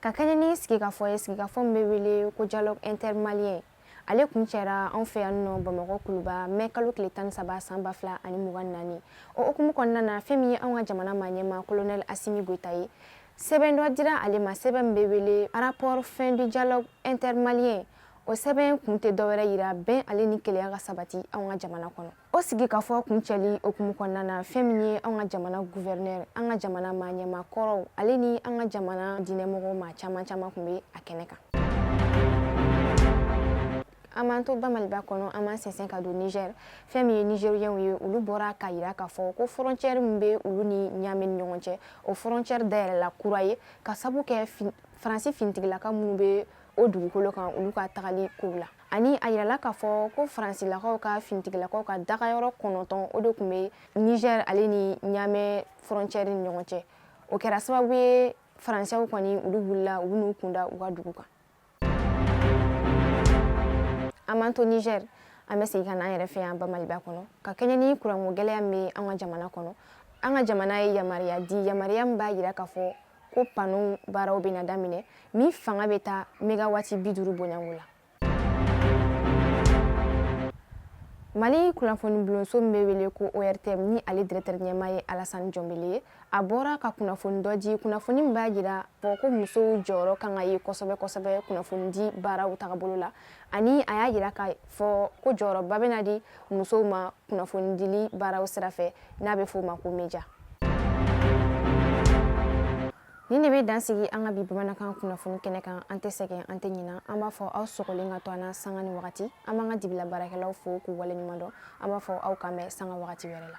ka kɛɲɛ ni sigikafɔ ye sigikafɔ min bɛ wele ko dialogue intermalien ale kun cɛra an fɛ yan nɔ bamakɔ kuluba mɛ kalo tile tan ni saba san ba fila ani mugan naani o hukumu kɔnɔna na fɛn min ye an ka jamana ma ɲɛma kolonɛl asimi goyita ye sɛbɛn dɔ dira ale ma sɛbɛn min bɛ wele rapport fin du dialogue intermalien o sɛbɛn kun tɛ dɔwɛrɛ yira bɛn ale ni kelenya ka sabati an ka jamana kɔnɔ o sigikafɔ kuncɛli hukumu kɔnɔna na fɛn min ye an ka jamana gouverneur an ka jamana maa ɲɛma kɔrɔw ale ni an ka jamana diinɛmɔgɔ maa caman caman kun be a kɛnɛ kan an b'an to bamaliba kɔnɔ an b'an sɛnsɛn ka don niger fɛn min ye nigeriɛnw ye olu bɔra ka yira k'a fɔ ko frontière min be olu ni ɲame ni ɲɔgɔn cɛ o frontière dayɛlɛla kura ye ka sabu kɛ faransi finitigilaka minnu be o dugukolo kan olu ka tagali kow la ani a yirala k'a fɔ ko faransilakaw ka finitigilakaw ka dagayɔrɔ kɔnɔntɔn o de kun bɛ niger ale ni ɲamɛ frontière ni ɲɔgɔn cɛ o kɛra sababu ye faransɛw kɔni olu wulila u n'u kunda u ka dugu kan an b'an to niger an bɛ segin ka na an yɛrɛ fɛ yan bamaliba kɔnɔ ka kɛɲɛ ni kuranko gɛlɛya min bɛ an ka jamana kɔnɔ an ka jamana ye yamaruya di yamaruya min b'a jira k'a fɔ ko pano baaraw bɛna daminɛ min fanga bɛ taa megawati bi duuru bɔɲɔgɔnko la mali kunnafoni bulonso min bɛ wele ko ortm ni ale directeur ɲɛma ye alasani jɔnbele ye a bɔra ka kunnafoni dɔ di kunnafoni min b'a jira fɔ ko musow jɔyɔrɔ kan ka ye kosɛbɛ kosɛbɛ kunnafonidi baaraw tagabolo la ani a y'a yira k'a fɔ ko jɔyɔrɔba bɛna di musow ma kunnafonidili baaraw sira fɛ n'a bɛ f'o ma ko media nin de bɛ dansigi an ka bi bamanankan kunnafoni kɛnɛ kan an tɛ sɛgɛn an tɛ ɲina an b'a fɔ aw sɔgɔlen ka to an na sanga ni wagati an b'an ka dibila baarakɛlaw fo k'u waleɲuman dɔn an b'a fɔ aw k'an bɛn sanga wagati wɛrɛ la